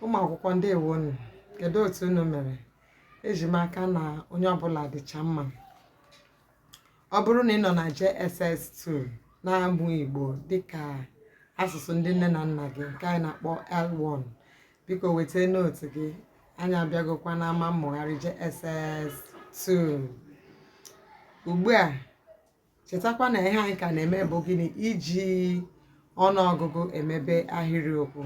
ụmụ akwụkwọ ndeewonu kedu otu unu mere eji m aka na onye ọbụla dịcha mma ọ bụrụ na ị nọ na JSS2 na-amụ Igbo dịka asụsụ ndị nne na nna gị nke anyị na-akpọ L1 biko weta nootu gị anyị abịagokwa n'ama mmụgharị JSS2 ugbu a chetakwa na ihe anyị ka na-eme bụ gịnị iji ọnụọgụgụ emebe ahịrịokwu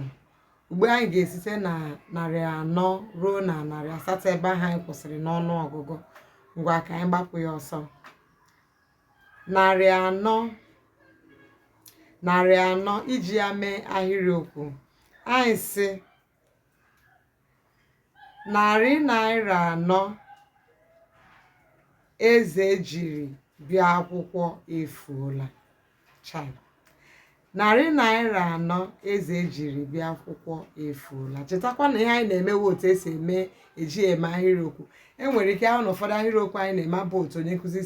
ugbu a anyị ga-esite na narị anọ ruo na narị asatọ ebe ahụ anyị kwụsịrị n'ọnụọgụgụ ngwa ka anyị gbapụ ya ọsọ Narị anọ iji ya mee ahịrịokwu anyị sị narị naira anọ Eze jiri bịa akwụkwọ efuola chai Narị naira anọ Eze jiri bịa akwụkwọ efuola. Chetakwa na ihe anyị na-eme wụ otu esi eji eme ahịrịokwu. E nwere ike a hụ na ụfọdụ ahịrịokwu anyị na-eme abụ otu onye nkụzi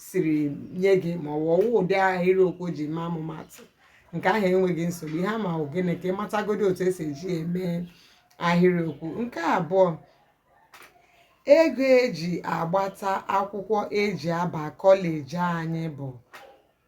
siri nye gị ma ọ bụ ọ wụ ụdị ahịrịokwu o ji mee ọmụmaatụ. Nke ahụ enweghị nsogbu. Ihe ama bụ gịnị ka ị matagodi otu esi eji eme ahịrịokwu. Nke abụọ, ego eji agbata akwụkwọ eji aba kọleji anyị bụ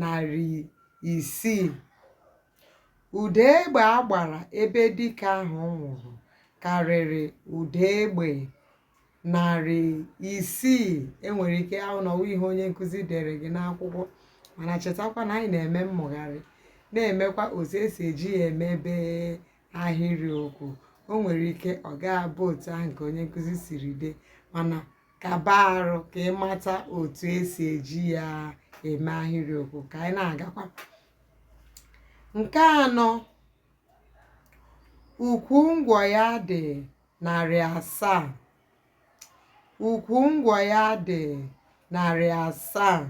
narị isii. Ụda egbe a gbara ebe dike ahụ nwụrụ karịrị ụda egbe narị isii e nwere ike a hụ na ọ wụ ihe onye nkụzi dere gị n'akwụkwọ mana chetakwa na anyị na-eme mmụgharị na-emekwa otu esi eji ya emebe ahịrịokwu o nwere ike ọ ga-abụ otu ahụ ka onye nkụzi siri dee mana ka ọ bụrụ ka ị mata otu esi eji ya eme ahịrịokwu ka anyị na-agakwa nke anọ ukwu ngwọ ya dị narị asaa ukwu ngwọ ya dị narị asaa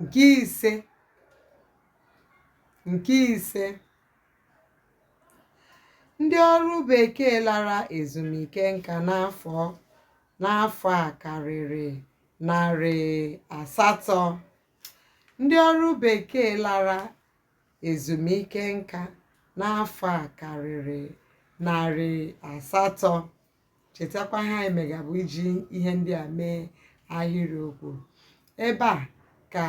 nke ise Nke ise, ndị ọrụ bekee lara ezumike nka n'afọ a karịrị narị asatọ. Ndị ọrụ bekee lara ezumike nka n'afọ a karịrị narị asatọ. chetakwa ihe anyị mega bụ iji ihe ndị a mee ahịrịokwu ebe a ka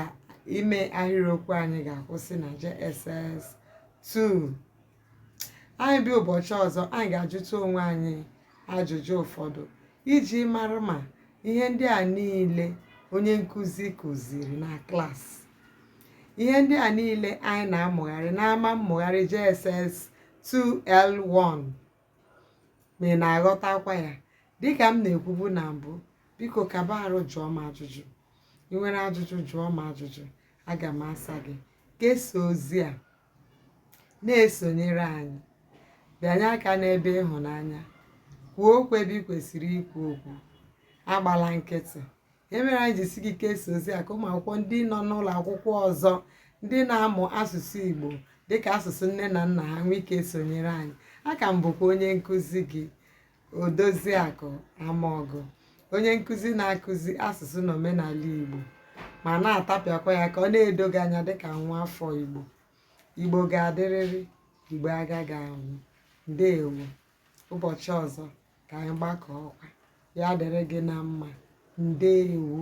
ime ahịrịokwu anyị ga-akwụsị na JSS 2 anyị bịa ụbọchị ọzọ anyị ga-ajụta onwe anyị ajụjụ ụfọdụ iji mara ma ihe ndị a niile onye nkụzi kụziri na klaasị ihe ndị a niile anyị na-amụgharị n'ama mmụgharị JSS 2L1 ma ị na-aghọtakwa ya dịka m na-ekwubu na mbụ biko kaba arụ jụọ m ajụjụ i nwere ajụjụ jụọ m ajụjụ aga m asa gị kesaa ozi a na-esonyere anyị bịanye aka n'ebe ịhụnanya kwuo okwu ebe i kwesịrị ikwu okwu agbala nkịtị ihe mere anyị ji sị gị kesaa ozi a ka ụmụ akwụkwọ ndị nọ n'ụlọ akwụkwọ ọzọ ndị na-amụ asụsụ Igbo dịka asụsụ nne na nna ha nwee ike sonyere anyị a ka m bụkwa onye nkụzi gị Odoziakụ Amaọgụ onye nkụzi na-akụzi asụsụ na omenala Igbo ma na-atapịakwa ya ka ọ na-edo gị anya dịka nwa afọ Igbo Igbo ga-adịrịrị Igbo agaghị anwụ ndeewo ụbọchị ọzọ ka anyị gbakọọkwa ya dịrị gị na mma ndewo